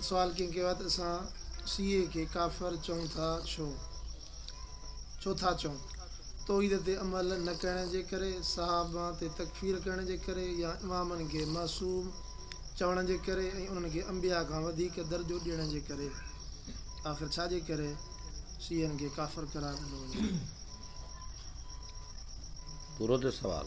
سوال، ڪنهن ڪيو آهي ته اسان سي اي کي ڪافر چئون ٿا ڇو؟ ڇو ٿا چئون؟ توحيد تي عمل نه ڪرڻ جي ڪري، صحابن تي تڪفير ڪرڻ جي ڪري يا امامن کي معصوم چوڻ جي ڪري ۽ انهن کي انبياء کان وڌيڪ درجو ڏيڻ جي ڪري؟ آخر ڇا جي ڪري سي اين کي ڪافر قرار ڏنو وڃي ٿو؟ پورو ٿيو سوال.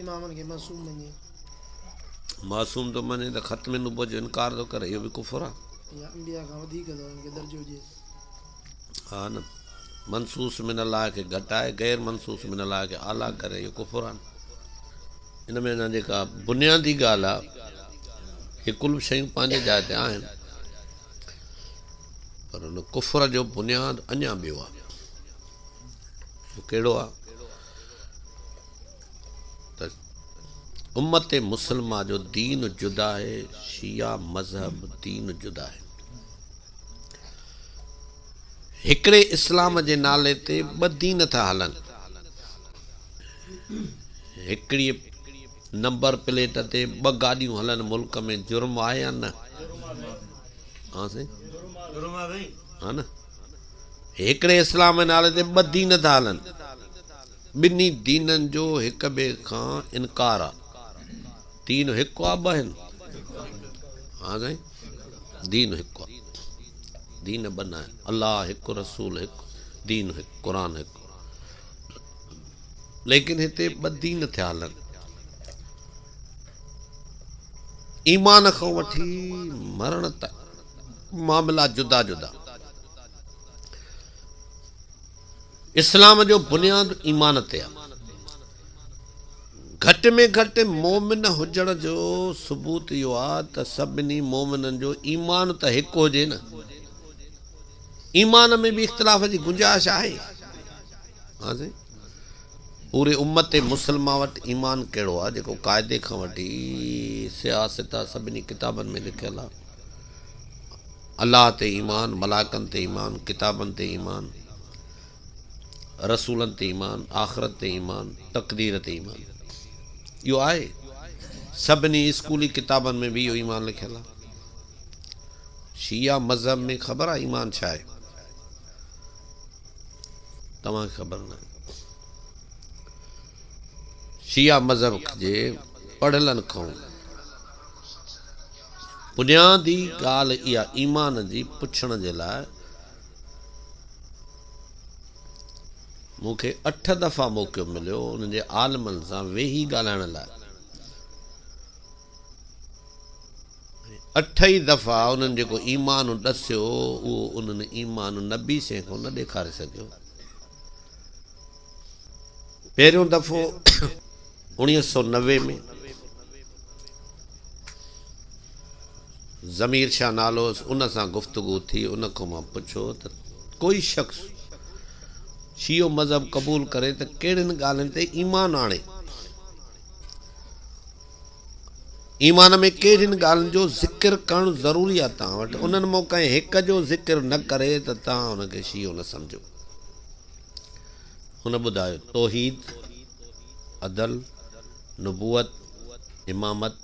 امامن کي معصوم مڃي. معصوم ٿو مڃي ته ختم نبوت جو انڪار ٿو ڪري اهو به ڪفر آ. يا انبياء کان وڌيڪ ٿو هن کي درجو ڏئي. ها نه منصوص من الله کي گهٽائي غير منصوص من الله کي اعليٰ ڪري اهو ڪفر آ. ان ۾ اڃا جيڪا بنيادي ڳالهه آ هي ڪل شيون پنهنجي جاء تي آهن پر ان ڪفر جو بنياد اڃا ٻيو آ. اهو ڪهڙو آ؟ ته امت مسلمه جو دين جدا آهي، شيعه مذهب دين جدا آهي. هڪڙي اسلام جي نالي تي ٻه دين ٿا هلن. هڪڙيء نمبر پليٽ تي ٻه گاڏيون هلن ملڪ ۾ جرم آهي يا نه؟ ها سائين؟ ها نه؟ هڪڙي اسلام جي نالي تي ٻه دين ٿا هلن. ٻنهي دينن جو هڪ ٻئي کان انڪار آ. دين هڪ آ ٻه آهن؟ ها سائين دين هڪ آ دين ٻه نه آهن الله هڪ رسول هڪ دين هڪ قرآن هڪ ليڪن هتي ٻه دين ٿيا هلن ايمان کان وٺي مرڻ تک معاملا جدا جدا اسلام جو بنياد ايمان تي آ. گهٽ ۾ گهٽ مؤمن هجڻ جو ثبوت اهو آ ته سڀني مؤمنن جو ايمان ته هڪ هجي نه. ايمان ۾ به اختلاف جي گنجائش آهي. ها سائين. پوري امت مسلمه وٽ ايمان ڪهڙو آ جيڪو قاعدي کان وٺي سياست آ سڀني ڪتابن ۾ لکيل آ. الله تي ايمان، ملائڪن تي ايمان، ڪتابن تي ايمان، رسولن تي ايمان، آخرت تي ايمان، تقدير تي ايمان. اهو آهي. سڀني اسڪولي ڪتابن ۾ به اهو ايمان لکيل آهي. شيعا مذهب ۾ خبر آهي ايمان ڇا آهي؟ توهان کي خبر نه آهي. شيعا مذهب جي پڙهيلن کانئون بنيادي ڳالهه اها ايمان جي پڇڻ جي لاء مون کي اٺ دفعا موقعو مليو انهن جي عالمن سان ويهي ڳالهائڻ لاء اٺ ئي دفعا انهن جيڪو ايمان ڏسيو اهو انهن ايمان نبي سين کان نه ڏيکاري سگهيو پهريون دفعو اوڻيهه سؤ نوي ۾ ضمير شاهه نالو هوس، ان سان گفتگو ٿي، ان کان مان پڇيو ته ڪوئي شخص شيعو مذهب قبول ڪري ته ڪهڙين ڳالهين تي ايمان آڻي؟ ايمان ۾ ڪهڙين ڳالهين جو ذڪر ڪرڻ ضروري آهي توهان وٽ؟ انهن مان ڪنهن هڪ جو ذڪر نه ڪري ته توهان ان کي شيعو نه سمجهو. هن ٻڌايو، توحيد، عدل، نبوت، امامت،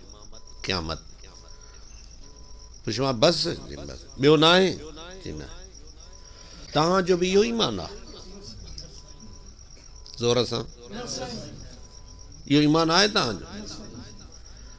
قيامت. پڇيو مان، بس؟ چيائين بس. ٻيو ناهي؟ چيائين نه. توهان جو به اهو ئي ايمان آهي؟ زور سان. اهو ايمان آهي توهان جو؟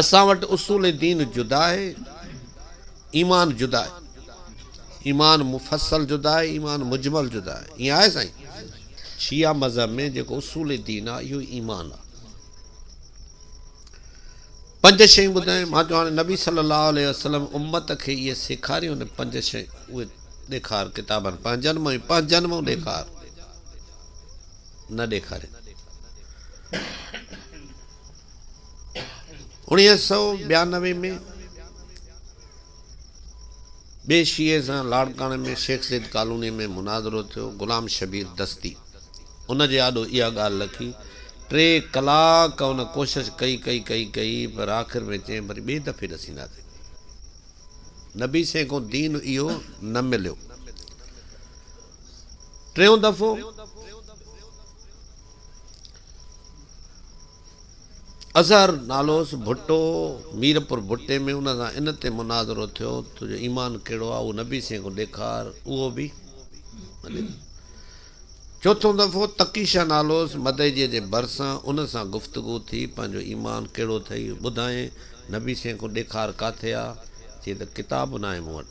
اسان وٽ اصول دين جدا آهي ايمان جدا آهي ايمان مفصل جدا آهي ايمان مجمل جدا آهي ائين آهي سائين شيعه مذهب ۾ جيڪو اصول دين آهي اهو ايمان آهي پنج شيون ٻڌائي مان چون هاڻي نبي صلي الله عليه وسلم امت کي اهي سيکاريون نه پنج شيون اهي ڏيکار ڪتابن پنهنجن مان پنهنجن مان ڏيکار نه ڏيکاري انيس سؤ ٻيانوي ۾ ٻئي شيعي سان لاڙڪاڻي ۾ شيخ زيد ڪالونيء ۾ مناظرو ٿيو. غلام شبير دستي ان جي آڏو اها ڳالهه لکي. ٽي ڪلاڪ ان ڪوشش ڪئي ڪئي ڪئي ڪئي پر آخر ۾ چيائين وري ٻئي دفعي ڏسينداسين. نبي سين کان دين اهو نه مليو. ٽيون دفعو. اظهر نالوس ڀٽو ميرپور ڀٽي ۾ ان سان ان تي مناظرو ٿيو ته جو ايمان ڪهڙو آهي اهو نبي سين کان ڏيکار اهو به چوٿون دفعو تقي شاهه نالوس مدئجي جي ڀرسان ان سان گفتگو ٿي پنهنجو ايمان ڪهڙو ٿئي ٻڌائين نبي سين کان ڏيکار ڪاٿي آهي چي ته ڪتاب ناهي مون وٽ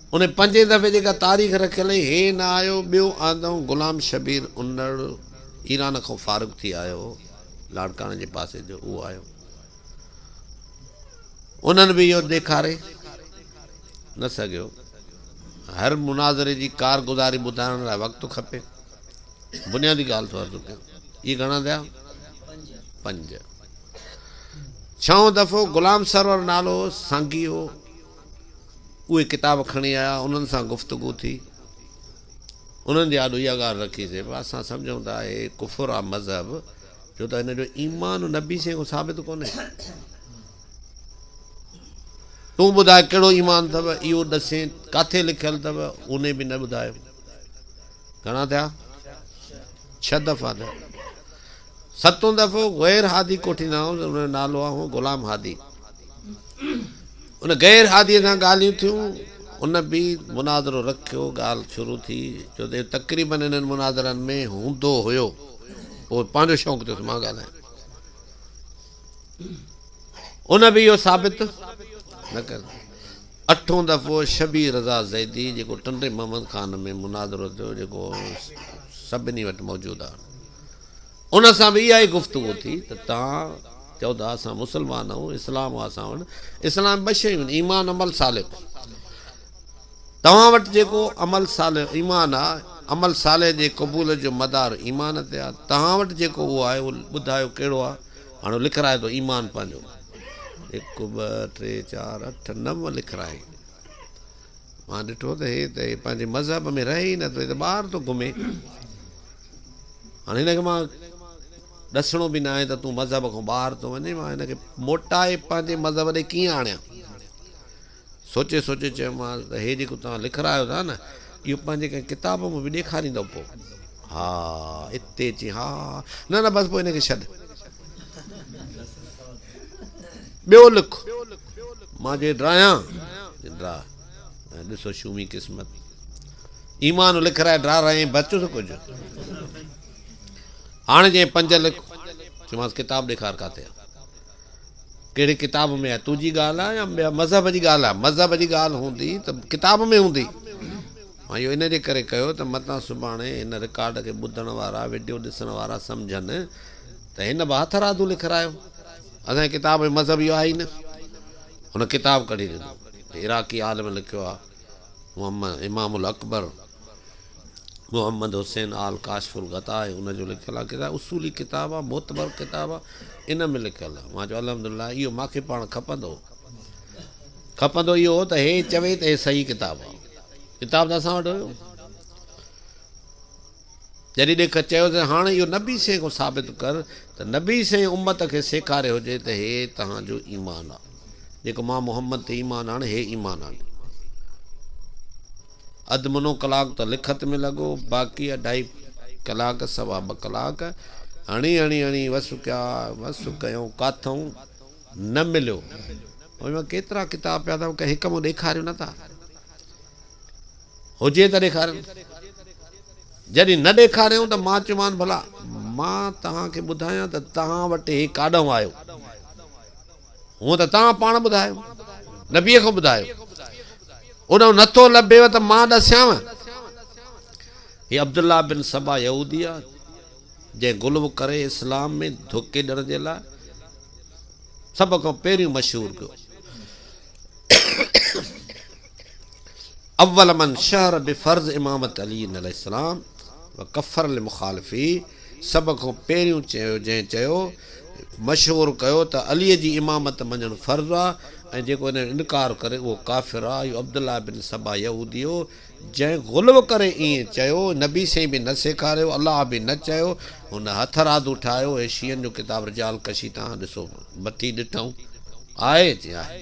هن پنجين دفعي جيڪا تاريخ رکيل هئي، هي نه آيو، ٻيو آندئون غلام شبير انڙ ايران کان فارغ ٿي آيو هو، لاڙڪاڻي جي پاسي جو، اهو آيو. انهن به اهو ڏيکاري نه سگهيو. هر مناظري جي ڪارگذاري ٻڌائڻ لاء وقت کپي. بنيادي ڳالهه ٿو عرض ڪيان. اهي گهڻا ٿيا؟ پنج. ڇهون دفعو غلام سرور نالو سانگي هو، اهي ڪتاب کڻي آيا، انهن سان گفتگو ٿي، انهن جي آڏو اها ڳالهه رکي سي بس اسان سمجهون ته اهي ڪفر آ مذهب جو ته هن جو ايمان نبي سين کان ثابت ڪونهي. تون ٻڌاء ڪهڙو ايمان اٿو اهو ڏسين ڪاٿي لکيل اٿو اونهي به نه ٻڌايو. گهڻا ٿيا؟ ڇهه دفعا ٿيا. ستون دفعو غير هادي ڪوٺي نه آيو، ان جو نالو آهو غلام هادي. ان غير هادي سان ڳالهيون ٿيون، ان به مناظرو رکيو، ڳالهه شروع ٿي، ڇو ته تقريبن انهن مناظرن ۾ هوندو هيو، اهو پنهنجو شوق ٿيو ته مان ڳالهايان. ان به اهو ثابت نه ڪيو. اٺون دفعو شبير رضا زيدي جيڪو ٽنڊي محمد خان ۾ مناظرو ٿيو، جيڪو سڀني وٽ موجود آهي. ان سان به اها ئي گفتگو ٿي ته توهان چئو ته اسان مسلمان آهيون، اسلام آهي اسان وٽ، اسلام ۾ ٻه شيون آهن، ايمان عمل صالح. توهان وٽ جيڪو عمل صالح ايمان آهي، عمل صالح جي قبوليت جو مدار ايمان تي آهي، توهان وٽ جيڪو اهو آهي اهو ٻڌايو ڪهڙو آهي، هاڻ لکرائي ٿو ايمان پنهنجو، هڪ ٻه ٽي چار اٺ نو لکرائي، مان ڏٺو ته هي ته پنهنجي مذهب ۾ رهي ئي نه ٿو، هي ته ٻاهر ٿو گهمي. هاڻ هن کي مان ڏسڻو به ناهي ته تون مذهب کان ٻاهر ٿو وڃين، مان هن کي موٽائي پنهنجي مذهب ڏي ڪيئن آڻيان؟ سوچي سوچي چيومانس ته هي جيڪو توهان لکرايو ٿا نه، اهو پنهنجي ڪنهن ڪتاب ۾ به ڏيکاريندؤ پوء؟ ها، اتي چي ها، نه نه بس پوء هن کي ڇڏ. ٻيو لک، مان جي ڊراهيان، ڊراهه. ۽ ڏسو شومي قسمت ايمان لکرائي ڊرا رهي بچس ڪجهه هاڻي جي پنج لک چيمانس ڪتاب ڏيکار ڪاٿي ڪهڙي ڪتاب ۾ آهي تنهنجي ڳالهه آهي يا ٻيا مذهب جي ڳالهه آهي مذهب جي ڳالهه هوندي ته ڪتاب ۾ هوندي مان اهو ان جي ڪري ڪيو ته متان سڀاڻي هن رڪارڊ کي ٻڌڻ وارا ويڊيو ڏسڻ وارا سمجهن ته هن به هٿ رادو لکرايو اسان کتاب مذهب اهو آهي نه هن ڪتاب ڪڍي ڏنو عراقي عالم لکيو آهي محمد امام الاڪبر محمد حسين آل ڪاشف الغطاء ان جو لکيل آهي ڪتاب اصولي ڪتاب آهي معتبر ڪتاب آهي ان ۾ لکيل آهي مان چيو الحمدلله اهو ماکي پاڻ کپندو کپندو اهو هو ته هي چوي ته هي صحيح ڪتاب آهي ڪتاب ته اسان وٽ هيو جڏهن ڏيک چيو ته هاڻ اهو نبي سين کان ثابت ڪر ته نبي سين امت کي سيکاري هجي ته هي توهان جو ايمان آ جيڪو مان محمد تي ايمان آڻ هي ايمان آڻي اڌ منو ڪلاڪ ته لکت ۾ لڳو باقي اڍائي ڪلاڪ سوا ٻه ڪلاڪ هڻي هڻي هڻي وس ڪيا وس ڪيو ڪاٿون نه مليو ڪيترا ڪتاب پيا اٿم ڪنهن هڪ مون ڏيکاريو نه ٿا هجي ته ڏيکارين. جڏهن نه ڏيکاريائون ته مان چيومانس ڀلا مان توهان کي ٻڌايان ته توهان وٽ هي ڪاڏانهن آيو؟ هونء ته توهان پاڻ ٻڌايو، نبيء کان ٻڌايو. اڏانهن نه ٿو لڀيو ته مان ڏسيانء. هي عبدالله بن سبا يهودي آ، جنهن غلو ڪري اسلام ۾ ڌوڪي ڏيڻ جي لاء سڀ کان پهريون مشهور ڪيو. اول من شهر بفرض امامت علي عليه السلام وکفر المخالفي سڀ کان پهريون چيو جنهن چيو مشهور ڪيو ته علي جي امامت مڃڻ فرض آ ۽ جيڪو ان جو انڪار ڪري اهو ڪافر آ اهو عبدالله بن سبا يهودي هو جنهن غلو ڪري ائين چيو نبي سائين به نه سيکاريو الله به نه چيو هن هٿرادو ٺاهيو هي شيعن جو ڪتاب رجال ڪشي تان ڏسو مٿي ڏٺم آهي جي آهي.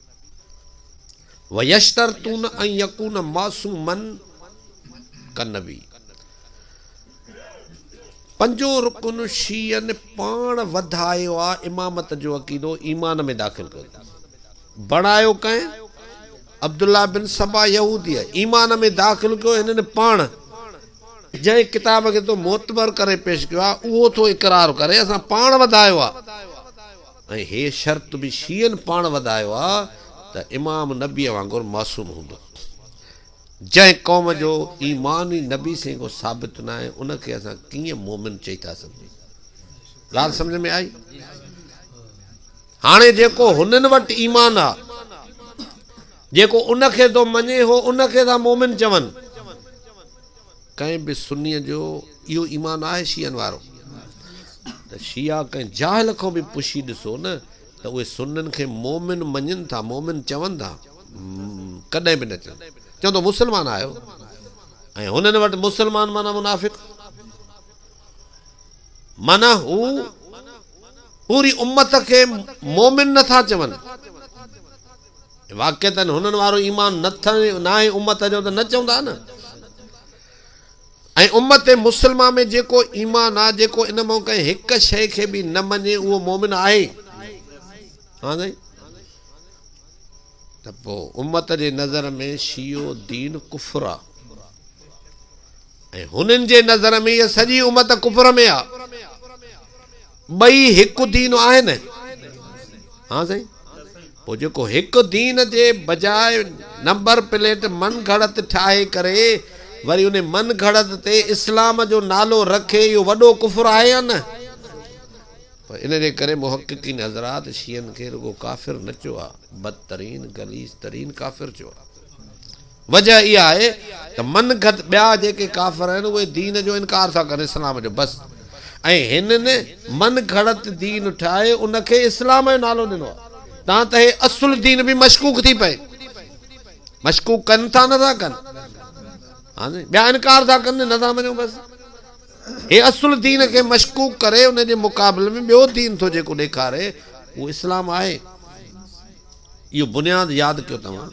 ويشترطون ان يڪون معصوما كالنبي پنجون رڪن شيعن پاڻ وڌايو آ امامت جو عقيدو ايمان ۾ داخل ڪيو اٿن بڻايو ڪنهن عبدالله بن سبا يهوديء ايمان ۾ داخل ڪيو هنن پاڻ جنهن ڪتاب کي تو معتبر ڪري پيش ڪيو آ اهو ٿو اقرار ڪري اسان پاڻ وڌايو آ. ۽ هيء شرط به شيعن پاڻ وڌايو آ ته امام نبيء وانگر معصوم هوندو. جنهن قوم جو ايمان ئي نبي سين کان ثابت ناهي، ان کي اسان ڪيئن مؤمن چئي ٿا سگهجون؟ ڳالهه سمجهه ۾ آئي؟ هاڻي جيڪو هنن وٽ ايمان آ، جيڪو ان کي ٿو مڃي، هو ان کي ٿا مؤمن چون. ڪنهن به سنيء جو اهو ايمان آهي شيعن وارو ته شيعا ڪنهن جاهل کان به پڇي ڏسو نه ته اهي سنن کي مؤمن مڃين ٿا مؤمن چون ٿا؟ ڪڏهن به نه چون چون ته مسلمان آهيو ۽ هنن وٽ مسلمان معنيٰ منافق معنيٰ هو پوري امت کي مؤمن نه ٿا چون. واقعتن هنن وارو ايمان نه ٿئي ناهي امت جو ته نه چوندا نه ۽ امت مسلمه ۾ جيڪو ايمان آ جيڪو ان مان ڪنهن هڪ شئي کي به نه مڃي اهو مؤمن آهي ها سائين ته پو امت جي نظر ۾ شيعو دين ڪفر آ ۽ هنن جي نظر ۾ هي سڄي امت ڪفر ۾ آ ٻئي هڪ دين آهن؟ ها سائين پوء جيڪو هڪ دين جي بجاء نمبر پليٽ من گهڙت ٺاهي ڪري وري ان من گهڙت تي اسلام جو نالو رکي اهو وڏو ڪفر آهي يا نه؟ پر ان جي ڪري محققين حضرات شيعن کي رڳو ڪافر نه چيو آهي بدترين غليظ ترين ڪافر چيو آهي. وجهه اها آهي ته من گهت ٻيا جيڪي ڪافر آهن اهي دين جو انڪار ٿا ڪن اسلام جو بس ۽ هنن من گهڙت دين ٺاهي ان کي اسلام جو نالو ڏنو آهي تان ته هي اصل دين به مشڪوڪ ٿي پئي مشڪوڪ ڪن ٿا نه ٿا ڪن ها سائين ٻيا انڪار ٿا ڪن نه ٿا مڃون بس هي اصل دين کي مشڪوڪ ڪري ان جي مقابل ۾ ٻيو دين ٿو جيڪو ڏيکاري اهو اسلام آهي اهو بنياد ياد ڪيو توهان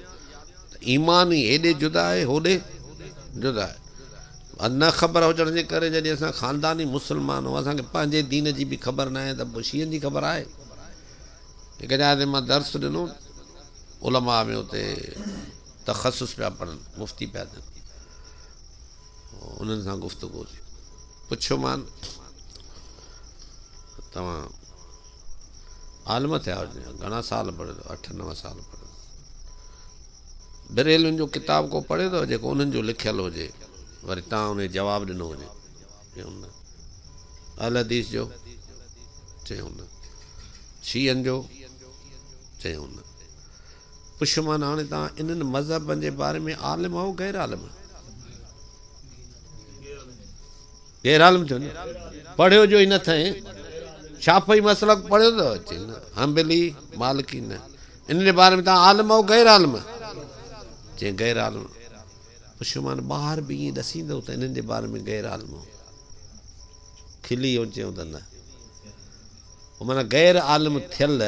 ته ايمان ئي هيڏي جدا آهي هوڏي جدا آهي. بس نه خبر هجڻ جي ڪري جڏهن اسان خانداني مسلمان هئا اسان کي پنهنجي دين جي به خبر ناهي ته پوء شيعن جي خبر آهي. هڪ جاء تي مان درس ڏنو علماء ۾ اتي تخصص پيا پڙهن مفتي پيا ٿين. انهن سان گفتگو ٿي. پڇيومان توهان عالم ٿيا آهيو جيئن گهڻا سال پڙهيو اٿو؟ اٺ نو سال پڙهيو اٿس. بريلوين جو ڪتاب ڪو پڙهيو اٿو جيڪو انهن جو لکيل هجي وري توهان انهي جواب ڏنو هجي؟ چيائون نه. اهل حديث جو؟ چيائون نه. شيعن جو؟ چيائون نه. پشمان هاڻي توهان انهن مذهبن جي باري ۾ عالم آهو غير عالم؟ غير عالم ٿيو نه پڙهيو جو هن ٿئين شافعي مسلڪ پڙهيو ته اچي نه حنبلي مالڪي نه ان جي باري ۾ توهان عالم آهو غير عالم؟ چئين غير عالم پشمان ٻاهر به ائين ڏسيندو ته انهن جي باري ۾ غير عالم آهو کلي هو چيو ته نه هو معنيٰ غير عالم ٿيل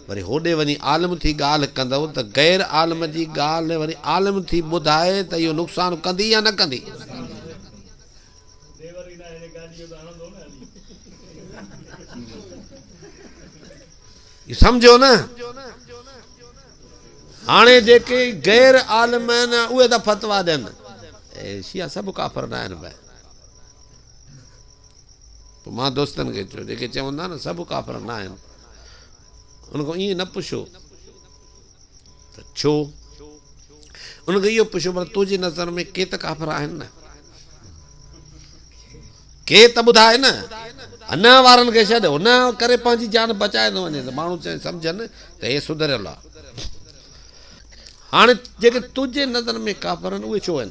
وري هوڏي وڃي عالم ٿي ڳالهه ڪندو ته غير عالم جي ڳالهه وري عالم ٿي ٻڌائي ته اهو نقصان ڪندي يا نه ڪندي. سمجهيو نه؟ هاڻي جيڪي غير عالم آهن اهي ته فتويٰ ڏين. شيعا سڀ ڪافر نه آهن ڀائي. پوء مان دوستن کي چيو، جيڪي چون ٿا نه سڀ ڪافر ناهن، ان کان ائين نه پڇو ته ڇو؟ ان کان اهو پڇو ڀلا تنهنجي نظر ۾ ڪي ته ڪافر آهن نه؟ ڪي ته ٻڌاء نه؟ هن وارن کي ڇڏ، هن ڪري پنهنجي جان بچائي ٿو وڃين ته ماڻهو چون سمجهن ته هي سڌريل آهي. هاڻي جيڪي تنهنجي نظر ۾ ڪافر آهن، اهي ڇو آهن؟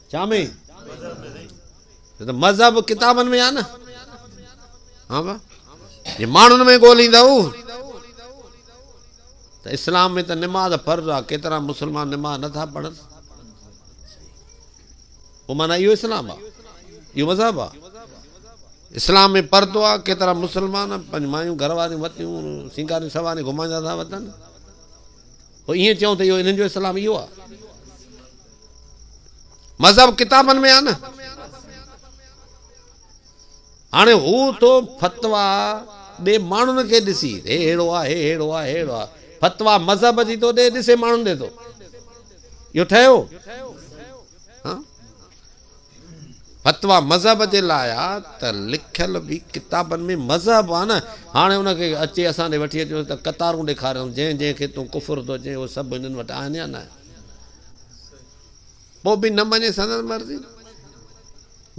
ڇا ۾؟ ڇو ته مذهب ڪتابن ۾ آهي نه. ها ڀا جي ماڻهن ۾ ڳوليندؤ ته اسلام ۾ ته نماز فرض آهي ڪيترا مسلمان نماز نه ٿا پڙهن پوء معنيٰ اهو اسلام آهي اهو مذهب آهي اسلام ۾ پردو آهي ڪيترا مسلمان پنهنجي مايون گهر واريون وتيون سينگاري سواري گهمائيندا ٿا وتن پوء ائين چئون ته اهو انهن جو اسلام اهو آهي مذهب ڪتابن ۾ آ نه. هاڻي هو ٿو فتوا ڏي ماڻهن کي ڏسي هي ههڙو آ هي ههڙو آ هي ههڙو آ فتوا مذهب جي ٿو ڏي ڏسي ماڻهن ڏي ٿو اهو ٺهيو فتوا مذهب جي لاء آ ته لکيل به ڪتابن ۾ مذهب آ نه هاڻي ان کي اچي اسان ڏي وٺي اچو ته قطارون ڏيکاريون جنهن جنهن کي تون ڪفر ٿو چين اهو سڀ هنن وٽ آهن يا نه پوء به نه مڃي سندس مرضي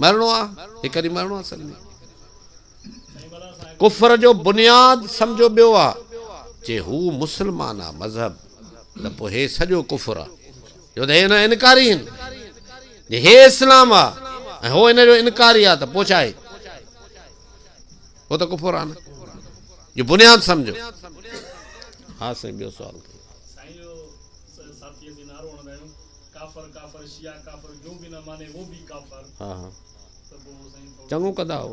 مرڻو آ هڪ ڏينهن مرڻو آ سڀني ڪفر جو بنياد سمجهو ٻيو آ جي هو مسلمان آ مذهب ته پوء هي سڄو ڪفر آ جو ته هي هن انڪاري هن جي هي اسلام آ ۽ هو هن جو انڪاري آ ته پوء ڇا آهي هو ته ڪفر آ نه جو بنياد سمجهو ها سائين ٻيو سوال ساٿيء کي نعرو هڻندا آهيون، ڪافر ڪافر شيعا ڪافر جو به نه ماني وو بي ڪافر ته پوء سائين ٿورو چڱو ڪندا هو.